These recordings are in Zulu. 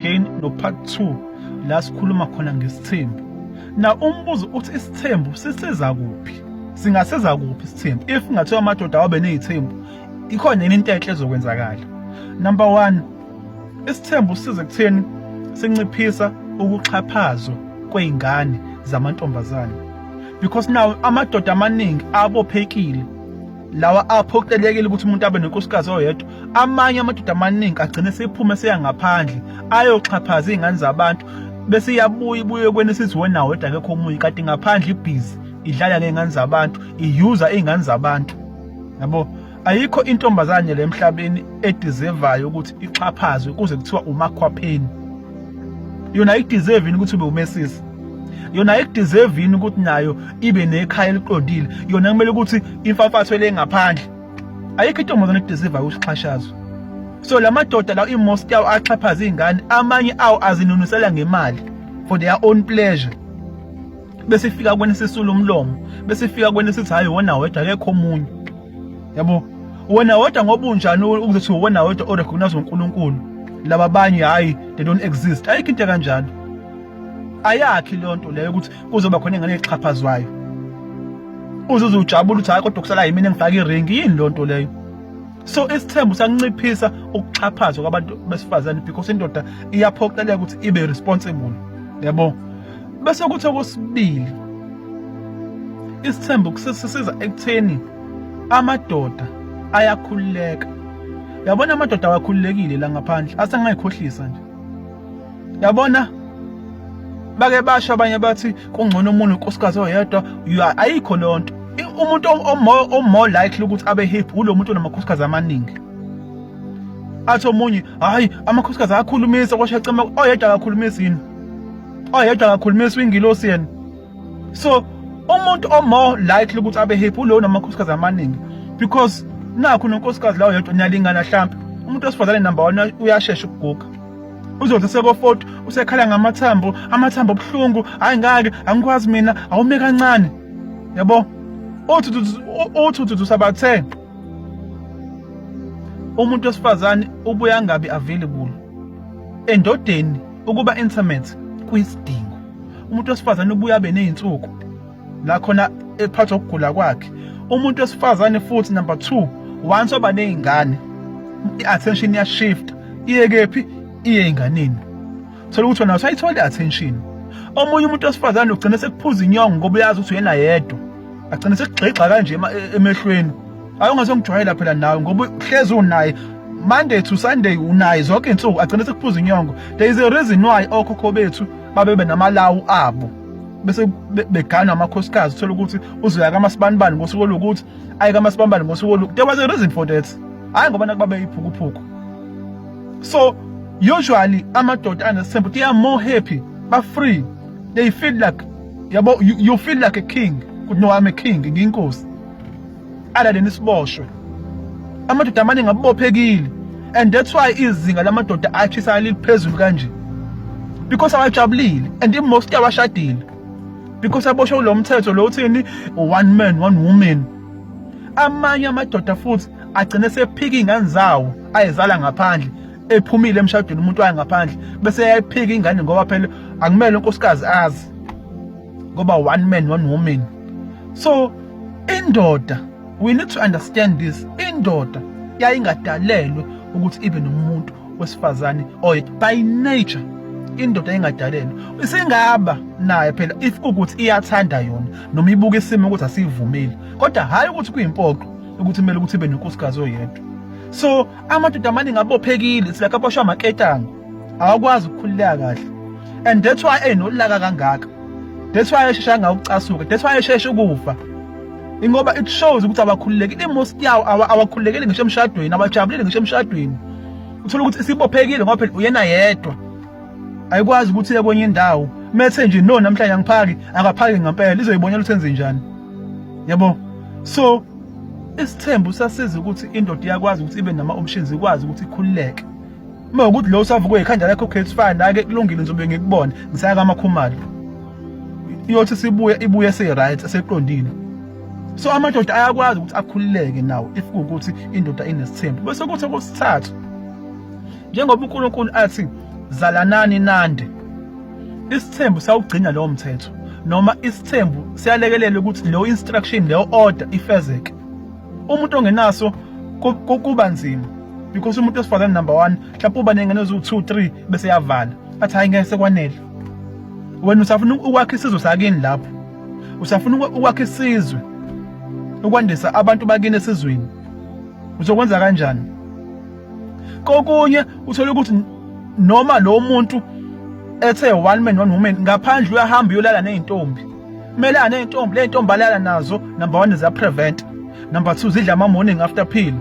again no part 2 la sikhuluma khona ngesithembu na umbuzo uthi isithembu sisiza kuphi singasiza kuphi isithembu if ngathiwa amadoda awabe nezithembu ikhona yini into enhle ezokwenzakala number 1 isithembu size kutheni sinciphisa ukuxhaphazwa kweingane zamantombazane because now amadoda amaningi abophekile lawa aphoqelekile ukuthi umuntu abe nenkosikazi oyedwa amanye amadoda amaningi agcine sephume seya ngaphandle ayoxhaphaza iy'ngane zabantu bese iyabuya ibuye kwena esiziwe nawo yedwa akekho omunye kanti ngaphandle ibhizi idlala ngey'ngane zabantu iyuza iy'ngane zabantu yabo ayikho intombazane le emhlabeni edizevayo ukuthi ixhaphazwe kuze kuthiwa umakhwapheni yona ayideserve yini ukuthi ube umesisi yona ikudeserve yini ukuthi nayo ibe nekhaya eliqondile yona kumele ukuthi imfafatho le ngaphandle ayikho intombazane ekudeserve ukuthi ixhashazwe so la madoda lawo imost yawo axhaphaza iy'ngane amanye awo azinunusela ngemali for their own pleasure bese ifika kwena sisula umlomo bese ifika kwena sithi hayi wona wedwa akekho omunye yabo wena wedwa ngoba unjani ukuzothi wona wedwa orecognize uNkulunkulu laba banye hayi they don't exist ayikho into kanjalo ayakhi leyo nto leyo ukuthi kuzoba khona ingane exhaphazwayo uzuze ujabula ukuthi hayi kodwa kusala yimina engifaka iringi yini leyo nto leyo so isithembu sakunciphisa ukuxhaphazwa kwabantu besifazane because indoda iyaphoqeleka ukuthi ibe responsible yabo bese kuthi okwesibili isithembu kusisiza ekutheni amadoda ayakhululeka yabona amadoda awakhululekile la ngaphandle asengayikhohlisa nje yabona bake basho abanye bathi kungcono umuntu unkosikazi oyedwa ayikho lonto umuntu omore likely ukuthi abe hip ulo muntu onamakhosikazi amaningi athi omunye hayi amakhosikazi ayakhulumisa kwasho acema oyedwa akakhulumisi yini oyedwa akakhulumisi wingilosi yena so umuntu omore likely ukuthi abe hip ulo onamakhosikazi amaningi because nakho nonkosikazi lawo yedwa niyalingana hlampe umuntu wesifazane number 1 uyashesha ukuguga uzonto sekofoti usekhala ngamathambo amathambo obuhlungu hayi ngake angikwazi mina awume kancane yabo othuthuthuthusa bathe umuntu wesifazane ubuye angabi available endodeni ukuba intimate kuyisidingo umuntu wesifazane ubuye abe nezinsuku la khona ephathwa ukugula kwakhe umuntu wesifazane futhi number 2 once oba nezingane i-attention ya shift iye kephi iye enganeni thola ukuthi wena usayithola i-attention omunye umuntu wesifazane ugcine sekuphuza inyongo ngoba uyazi ukuthi uyena yedwa agcine sekugxigxa kanje e-, emehlweni ayongazongijwayela phela nawe ngoba uhlezi unaye Monday to Sunday unaye zonke insuku agcine sekuphuza inyongo there is a reason why okhokho bethu babebe namalawu abo bese beganwa amakhosikazi uthola ukuthi uzoya kamasibanibani ngosuku olukuthi ayi kamasibanibani ngosuku olukuthi there was a reason for that hayi ngoba nakuba beyiphukuphuku so usually amadoda anesithembu they are more happy ba free they feel like yabo you, you feel like a king kuthi no i'm a king ngiyinkosi alale nisiboshwe amadoda amaningi abubophekile and that's why izinga lamadoda athisa liliphezulu kanje because awajabulile and most awashadile because aboshwe ulo mthetho lo uthini one man one woman amanye amadoda futhi agcine sephika ingane zawo ayezala ngaphandle ephumile emshadweni umuntu waye ngaphandle bese yayiphika ingane ngoba phela akumele unkosikazi azi ngoba one man one woman so indoda we need to understand this indoda yayingadalelwe ukuthi ibe nomuntu wesifazane oy by nature indoda engadalelwe isingaba naye phela if ukuthi iyathanda yona noma ibuka isimo ukuthi asivumeli kodwa hayi ukuthi kuyimpoqo ukuthi kumele ukuthi ibe nenkosikazi oyedwa so amadoda amaningi abophekile silakhe aboshwa amaketanga awakwazi ukukhululeka kahle and that's why enolaka kangaka that's why eshesha ngawucasuka that's why eshesha ukufa ingoba it shows ukuthi abakhululekile imost yawo awakhululekile ngisho emshadweni abajabulile ngisho emshadweni uthola ukuthi sibophekile ngoba phela uyena yedwa ayikwazi ukuthi ye kwenye indawo methe nje no namhlanje angiphaki akaphaki ngempela izoyibonela ukuthi enze njani yabo so isithembu sasiza ukuthi indoda iyakwazi ukuthi ibe nama options ikwazi ukuthi ikhululeke uma ukuthi lo usavukwe ikhanda lakho case fine ake kulungile ngizobe ngikubona ngisaya kamakhumalo iyothi sibuye ibuye se right seqondile so amadoda ayakwazi ukuthi akhululeke nawo if ukuthi indoda inesithembu bese kuthi okusithathu njengoba uNkulunkulu athi zalanani nande isithembu sawugcina lowo mthetho noma isithembu siyalekelela ukuthi leyo instruction leyo order ifezeke umuntu ongenaso kuba nzima because umuntu osifazane number 1 mhlawumbe uba nengane eziwu 2 3 bese yavala athi hayi ngeke sekwanele wena usafuna ukwakha isizwe sakini lapho usafuna ukwakha isizwe ukwandisa abantu bakini esizweni uzokwenza kanjani kokunye uthole ukuthi noma lo muntu ethe one man one woman ngaphandle uyahamba uyolala nezintombi kumele anezintombi lezintombi balala nazo number 1 ziya prevent number 2 zidla ama morning after pill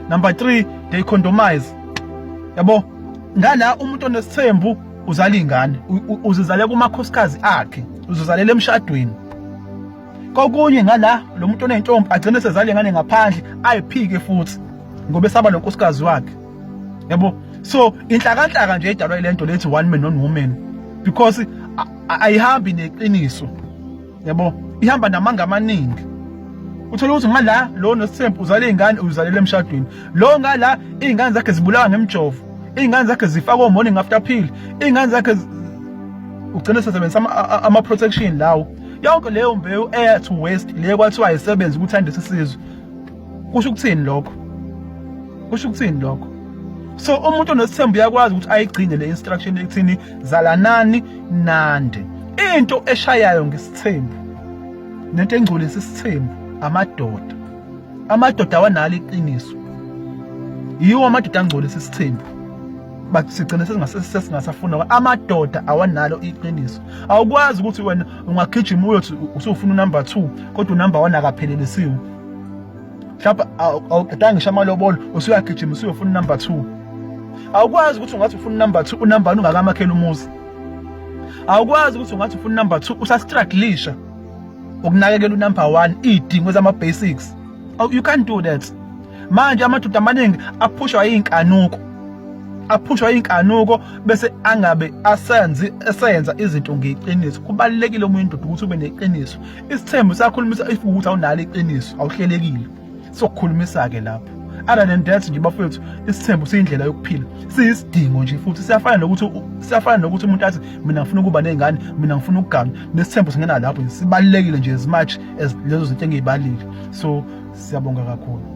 number 3 they condomize yabo ngala umuntu onesithembu uzala ingane uzizale kumakhosikazi akhe uzizalela emshadweni kokunye ngala lo muntu onentombi agcine sezale ngane ngaphandle ayiphike futhi ngoba esaba nonkosikazi wakhe yabo so inhlakanhlaka nje edalwa ilento lethi one man one woman because ayihambi neqiniso yabo ihamba namanga amaningi uthola ukuthi ngala lo nosithembu uzale izingane uzalela emshadweni lo ngala izingane zakhe zibulawa ngemjovo izingane zakhe zifakwa morning after pill izingane zakhe ugcine sesebenzisa ama protection lawo yonke leyo mbewu eya to waste le kwathiwa ayisebenzi ukuthandisa isizwe kusho ukuthini lokho kusho ukuthini lokho so umuntu onesithembu uyakwazi ukuthi ayigcine le instruction ekuthini zalanani nande into eshayayo ngesithembu nento engcolisa isithembu amadoda amadoda awanalo iqiniso yiwo amadoda angcolisa isithembu but sigcine sesingasafuna amadoda awanalo iqiniso awukwazi ukuthi wena ungagijima uyothi usufuna unumber 2 kodwa unumber 1 akaphelelisiwe mhlawumbe awuqedanga ngisho amalobolo usuyagijima usuyofuna unumber 2 awukwazi ukuthi ungathi ufuna unumber 2 unumber 1 ungakamakhela umuzi awukwazi ukuthi ungathi ufuna unumber 2 usastruglisha ukunakekela unumber 1 idingo zama basics oh, you can't do that manje amadoda amaningi aphushwa iy'nkanuko aphushwa iy'nkanuko bese angabe asenzi esenza izinto ngeqiniso kubalulekile omunye indoda ukuthi ube neqiniso isithembu sakhulumisa if ukuthi awunalo iqiniso awuhlelekile sokukhulumisa-ke lapho other than that nje bafowethu isithembu siyindlela yokuphila siyisidingo nje futhi siyafana nokuthi siyafana nokuthi umuntu athi mina ngifuna ukuba ney'ngane mina ngifuna ukugana nesithembu singena lapho sibalulekile nje as much as lezo zinto engiyibalile so siyabonga kakhulu